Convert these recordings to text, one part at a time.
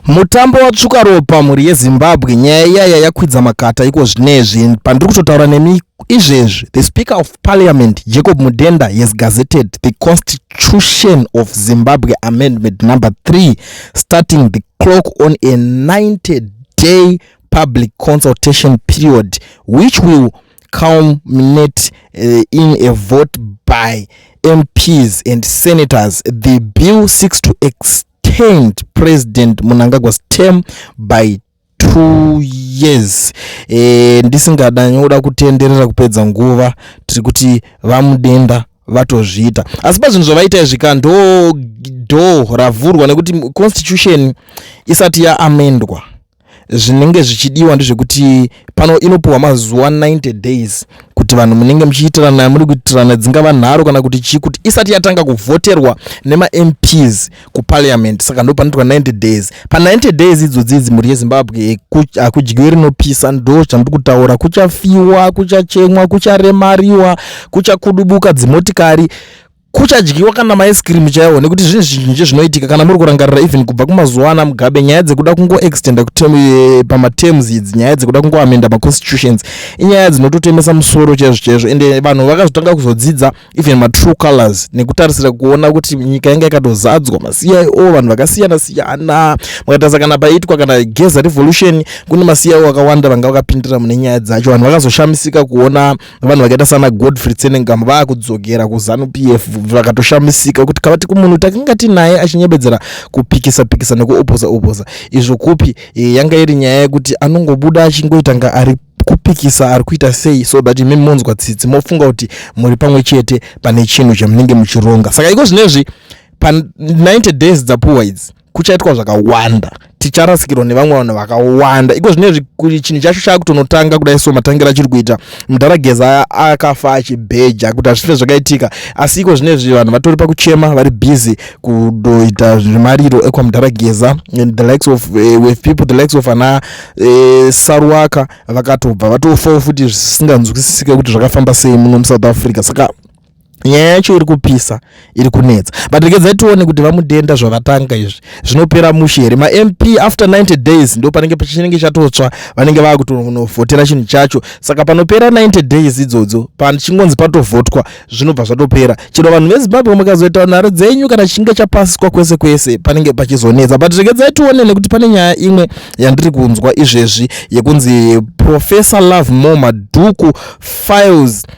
mutambo watsvuka ropa mhuri yezimbabwe nyaya iyaya yakwidza makata iko zvinezvi pandiri kutotaura nemi izvezvi the speaker of parliament jacob mudenda has gazetted the constitution of zimbabwe amendment number 3 starting the clock on a 90 day public consultation period which will culminate uh, in a vote by MPs and senators. The bill seeks to extend President Munangagwa's term by two years e, ndisingada nyoda kutenderera kupedza nguva tiri kuti vamudenda vatozviita asi pazvinhu zvavaita izvi ka ndo dho ravhurwa nekuti constitution isati yaamendwa zvinenge zvichidiwa ndezvekuti pano inopiwa mazuva 90 days kuti vanhu munenge muchiitirana yamuri kuitirana dzingava nharo kana kuti chii kuti isati yatanga kuvhoterwa nemamps kuparliament saka ndo panoitwa 90 days pa90 days idzodzi idzi mhuri yezimbabwe hakudyiwe rinopisa ndo zvandiri kutaura kuchafiwa kuchachemwa kucharemariwa kuchakudubuka dzimotikari kuchadyiwa kana maice cream chaiwo nekuti zvinhu zvizhinji zvinoitika kana muri kurangarira even kubva kumazuva ana mugabe nyaya dzekuda kungoextenda eh, pamaterms idzi nyaya dzekuda kungoamenda maconstitutions inyaya dzinototemesa musoro chaizvo chaizvo ende eh, vanhu vakazotanga kuzodzidza even matrue colors nekutarisira kuona kuti nyika yanga yakatozadzwa macio vanhu vakasiyana siyana mukatarisa kana paiitwa kana geza revolution kune macio akawanda vanga vakapindira mune nyaya dzacho vanhu vakazoshamisika kuona vanhu vakaita sana godfrey tsenengam vaakudzokera kuzanu p f vakatoshamisika kuti kavati kumunhu takanga tinaye achinyebedzera kupikisa pikisa nekuopoza opoza izvo kupi e, yanga iri nyaya yekuti anongobuda achingoitanga ari kupikisa ari kuita sei so that imi monzwa tsitsi mofunga kuti muri pamwe chete pane chinhu chamunenge muchironga saka iko zvino izvi pa 90 days dzapuwa idzi kuchaitwa zvakawanda ticharasikirwa nevamwe vanhu vakawanda iko zvinezvi chinhu chacho chaakutonotanga kudai so matangira achiri kuita mudhara geza akafa achibheja kuti hazvife zvakaitika asi iko zvinezvi vanhu vatori pakuchema vari busy kudoita zvimariro ekwamudhara geza the likes of uh, with people the likes of ana uh, eh, saruwaka vakatobva vatofawo futi zvisinganzwisisike kuti zvakafamba sei muno musouth africa saka nyaya yacho iri kupisa iri kunetsa but rekedza tione kuti vamudenda zvavatanga izvi zvinopera mushe here mamp after 90 days ndo panenge pachinenge chatotsva vanenge vava kutonovhotera chinhu chacho saka panopera 90 days idzodzo pachingonzi patovhotwa zvinobva zvatopera chero vanhu vezimbabwe mukazoita nharo dzenyu kana chinge chapasiswa kwese kwese panenge pachizonetsa but rekedza tione nekuti pane nyaya imwe yandiri kunzwa izvezvi yekunzi professor love more madhuku files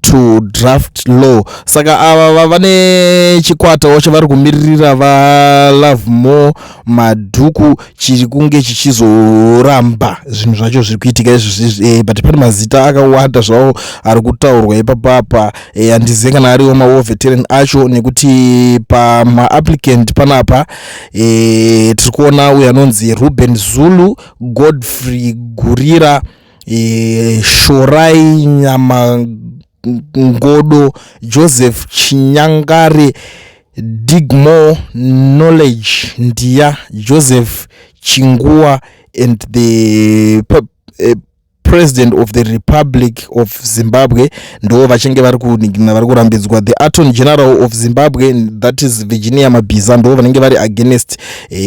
to draft law saka ava vava nechikwatawo chavari kumiririra valove more madhuku chiri kunge chichizoramba zvinhu zvacho zviri kuitika izvozvi eh, but pane mazita akawanda zvawo ari kutaurwa ipapapa eh, handizive kana ariwo mawo veteran acho nekuti pamaapplicant panapa eh, tiri kuona uyo anonzi ruben zulu godfrey gurira e, Shorai Nyama Ngodo, Joseph Chinyangare, Digmore Knowledge Ndiya, Joseph Chinguwa and the uh, president of the republic of zimbabwe ndo vachinge vari kunigina vari kurambidzwa the aton general of zimbabwe that is virginia mabhiza ndo vanenge vari against uh,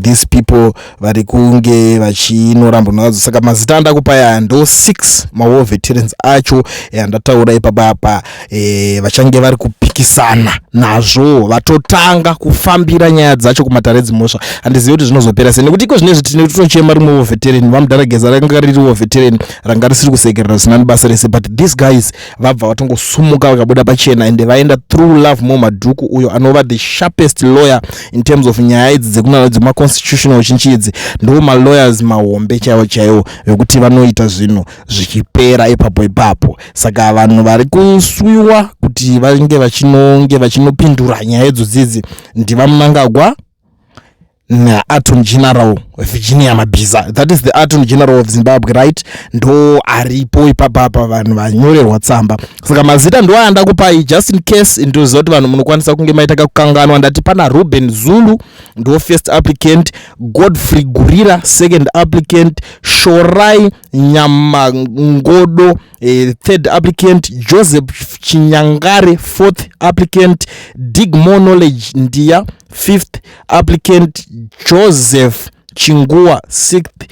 these people vari kunge vachinorambonazvo saka mazita andakupa aya ndo six mawar veterans acho eh, andataura ipapa apa e, vachange vari kupikisana nazvo vatotanga kufambira nyaya dzacho kumatare edzimhosva handizivi kuti zvinozopera sei nekuti iko zvine izvi tine tinochema rimwe woveteran vamudhara geza ranga riri woveteran ranga risiri kusekerera zvinani basa rese but these guys vabva vatongosumuka vakabuda pachena and vaenda through love mo madhuku uyo anova the sharpest lawyer in terms of nyaya idzi dzekunana dzemaconstitutional chinchi idzi ndo malawyers mahombe chaivo chaivo vekuti vanoita zvinhu zvichipera ipapo ipapo saka vanhu vari kuswiwa kuti vange vachinonge vachinopindura nyaya idzo dzidzi ndivamunangagwa na attorney general virginia mabhiza that is the attorney general of zimbabwe right ndo aripo ipapapa vanhu vanyorerwa tsamba saka mazita ndo ayanda kupai just in case ndoziva kuti vanhu munokwanisa kunge maita kakukanganwa ndati pana ruben zulu ndo first applicant godfrey gurira second applicant shorai nyamangodo Eh, third applicant joseph chinyangare fourth applicant digmore knowledge ndiya fifth applicant joseph chinguwa sixth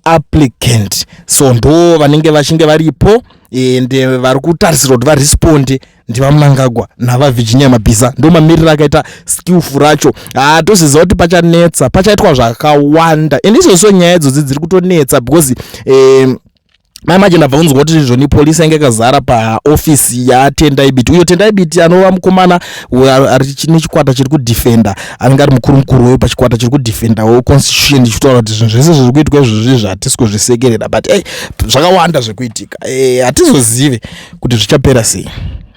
applicant so ndo vanenge vachinge varipo and eh, vari kutarisirwa kuti varesponde ndivamnangagwa navavirginia mabhiza ndo mamiriro akaita skillful racho haa ah, toziva kuti pachanetsa pachaitwa zvakawanda and izvozvo nyaya idzodzi dziri kutonetsa because um, mai manje ndabva kunzwa kuti zvoni polisi yange yakazara paofisi yatendai biti uyo tendai biti anova mukomana nechikwata chiri kudefenda anenge ari mukuru mukuru weyo pachikwata chiri kudefenda wo constitution ichitaura kuti zvinhu zvese zviri kuitwa izvozvi zvatisi kuzvisekerera but ey zvakawanda zvekuitika eh, hatizozive kuti zvichapera sei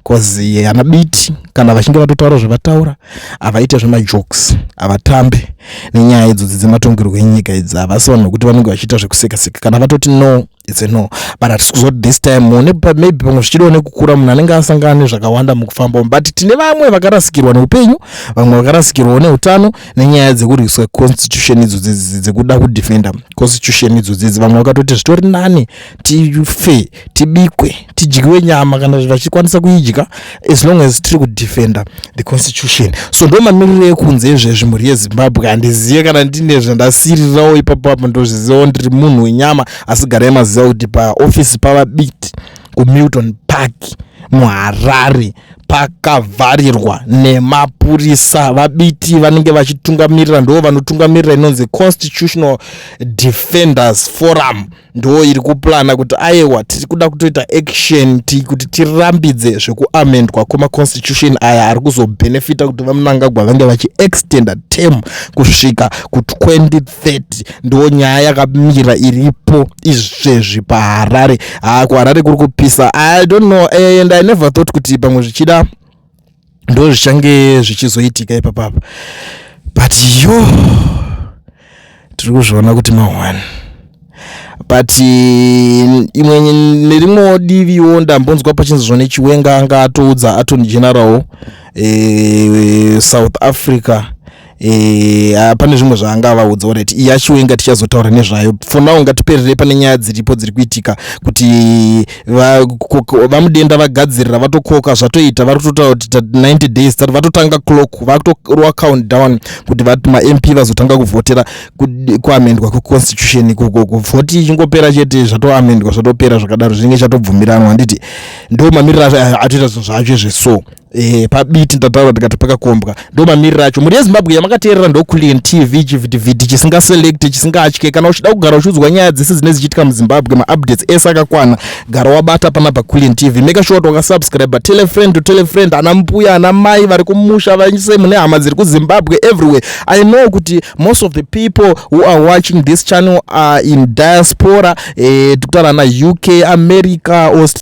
bcause ana biti kana vachinge vatotaura zvavataura havaite zvemajokes havatambe nenyaya idzodzi dzematongerwo enyika idzi havasi vanhu vekuti vanenge vachiita zvekusekaseka kana vatoti no its a no but hatisi kuzoti this time mune maybe pamwe zvichidiwa nekukura munhu anenge asangana nezvakawanda mukufamba umu but tine vamwe vakarasikirwa neupenyu vamwe vakarasikirwawo neutano nenyaya dzekurwiswa constitution idzo dzekuda kudefenda constitution idzo dzidzi vamwe vakatoti zvitori nani tife tibikwe tidyiwe nyama kana vachikwanisa kuidya as long as tiri kudefenda the constitution so ndo mamiriro ekunze ezvezvi mhuri yezimbabwe handizive kana ndine zvandasirirawo ipapo apo ndozvizivawo ndiri munhu wenyama asi garai maziva kuti paofisi pavabiti kumilton park muharare pakavharirwa nemapurisa vabiti vanenge vachitungamirira ndo vanotungamirira inonzi constitutional defenders forum ndo iri kuplana kuti ayewa tiri kuda kutoita action ti kuti tirambidze zvekuamendwa kwemaconstitution aya ari kuzobenefita kuti vamunangagwa vange vachiextenda term kusvika ku2030 ndo nyaya yakamira iripo izvezvi paharare haa kuharare kuri kupisa i don't know and i never thought kuti pamwe zvichida ndo zvichange zvichizoitika ipapapa but yo tiri kuzviona kuti mahwani but imwe nerimwewo diviwo ndambonzwa pachinzi zvone chiwenga anga atoudza atony general e, south africa Eh, ah, pane zvimwe zvaanga avaudza orit yashuwe inga tichazotaura nezvayo for now ngatipererei pane nyaya dziripo dziri kuitika kuti vamudenda vagadzirira vatokoka zvatoita vari kutotaura kuti 90 days tati vatotanga clock vakutorwa count down kuti mamp vazotanga kuvhotera kuamendwa kweconstitution ikoko kuvhoti ichingopera chete zvatoamendwa zvatopera zvakadaro zvinenge chatobvumiranwa handiti ndo mamiriro atoita zvinhu zvacho izvi so Eh, pabiti ndataura ndikati pakakombwa ndo mamiriro acho mhuri yezimbabwe yamakateerera ndokulian tv chivhitivhiti chisingaselekte chisingatye kana uchida kugara uchiudzwa nyaya dzese dzine dzichiitika muzimbabwe maupdates ese akakwana gara wabata pana pakulian tv make sure kuti wakasubscribe telefriend to telefriend ana mbuya ana mai vari kumusha vanyise mune hama dziri kuzimbabwe everywhere i know kuti most of the people who are watching this channel are in diaspora eh, tikutaura ana uk america Australia,